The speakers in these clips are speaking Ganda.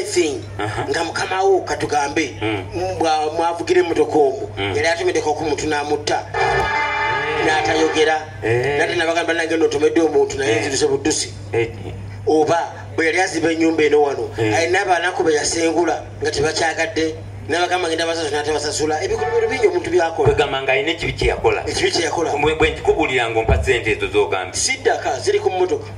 anything nga mukama wo katugambe mm. bwa mwavugira emotoka omu mm. yali atomedeko ku muntu namutta natayogera eh. nate nabagamba nange notomedde omuntu naye eh. nziruze buddusi eh. oba bwe yali aziba enyumba eno wano alina abanaku be yasengula nga tebakyagadde nabagamba ngenda basasula natabasasula ebikolobero bingi omuntu byakolagamba nga alina ekibi kyeyakola ekibi kyeyakola bwenkikubulira nga ompa sente ezo zogambye siddaka ziri ku mmotoka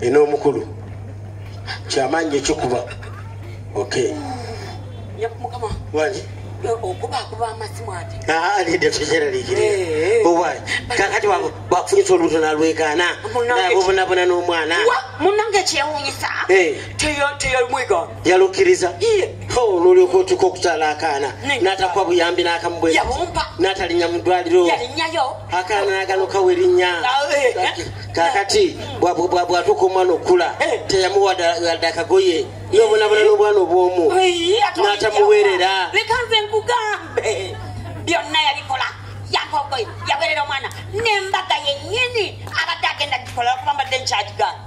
ena omukulu kyamaanyi ekyokuba ok wani kakati wakufunyisa olubuto nalwekana obonabona nomwana munange kyewunyisa teyomwiga yalukiriza nolyoka otuka okutala akaana natakwa buyambi nakamubwe natalinya mudwaliro akaana naganokawo erinya kakati bwatuka omwana okukula teyamuwa wadde akagoye nobonabona nobwana obwomu natamuwerera byonna yabikola yakogoye yawerera omwana nembaga yenyini abadde agenda gikola okuba mbadde nkyagigana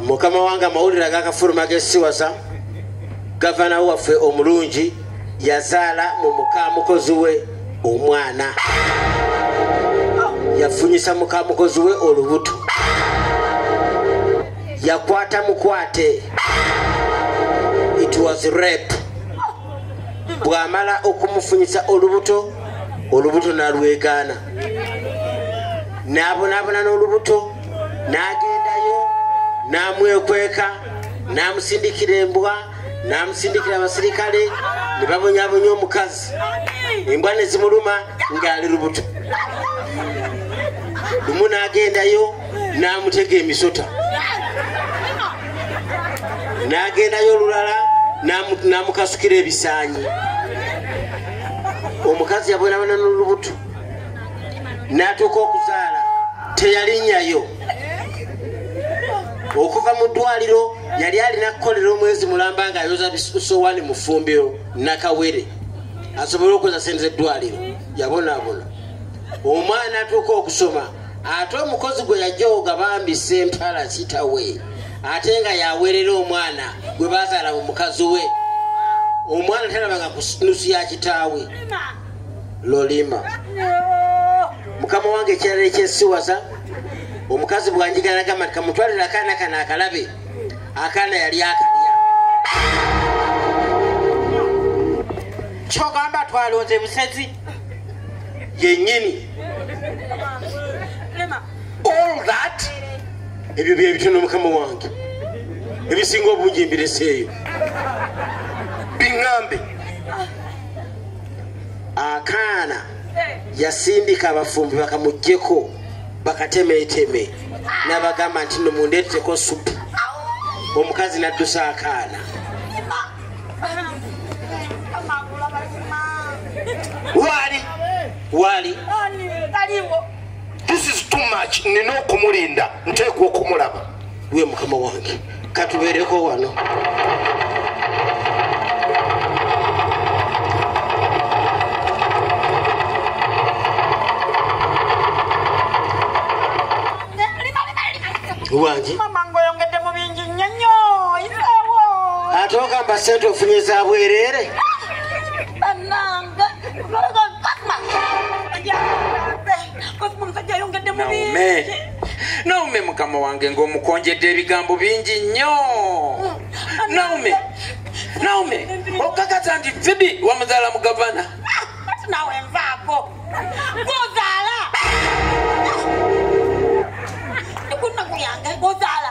mukama wange amawulire agakafuluma gesiwasa gavana waffe omulungi yazaala mu mukamukozi we omwana yafunyisa mukamukozi we olubuto yakwata mukwate it was rape bwamala okumufunyisa olubuto olubuto nalwegaana nabonabona n'olubuto n'agendayo n'amwekweka n'amusindikira embwa n'amusindikira abasirikale ne babonyabonya omukazi embwa ne zimuluma ng'ali lubuto lumu n'agendayo n'amutega emisota n'agendayo olulala n'amukasukira ebisaanyi omukazi yabonabona n'olubuto natuuka okuzaala teyalinyayo okuva mu ddwaliro yali alina kukolera omwezi mulamba nga ayoza bisowani mufumbiro nakawere asobole okukoza sente zeddwaliro yabonabona omwana atuuka okusoma ate omukozi gwe yajoga bambi sempala kitawe ate nga yawerera omwana gwe bazaala mu mukazi we omwana talabanga kunusu ya kitaawe lolima mukama wange ekirala ekyesiwaza omukazi bwanjigala gamba nti kamutwalira akaana kano akalabe akaana yali akalya kyogamba twalonze musezi yenyini all that ebyo byebitono mukama wange ebisinga obungi mbireseeyo biŋambe akaana yasindika abafumbi bakamujjeko bakatemeteme nabagamba nti no mundeeteko supu omukazi naddusa akaana waali waali this is too much nina okumulinda nteekwa okumulaba gwe mukama wange katubeereko wano wangi ate ogamba sente ofunye za bwereere naume mukama wange ngaomukonjedde ebigambo bingi nnyo naume naume okakata nti fibi wamuzaala mu gavana nawe nvaako gozaala ekunaku yange gozaala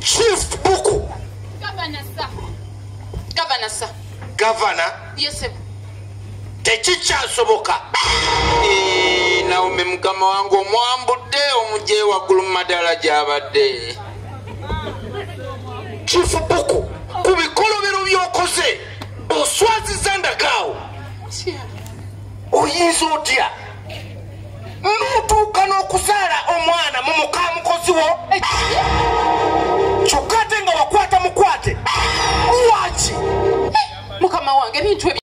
shift buku gavana sa gavana sa gavana yesebo tekikyasoboka eh, naomi mukama wange omwambudde omugye waggulu mu madala gyabadde kifubuku ku bikolobero byokoze oswaziza ndakaawo oyinza otya n'otuuka n'okuzaala omwana mu muka mukozi wo kyokka ate nga wakwata mukwate lwaki mukama wange ebintu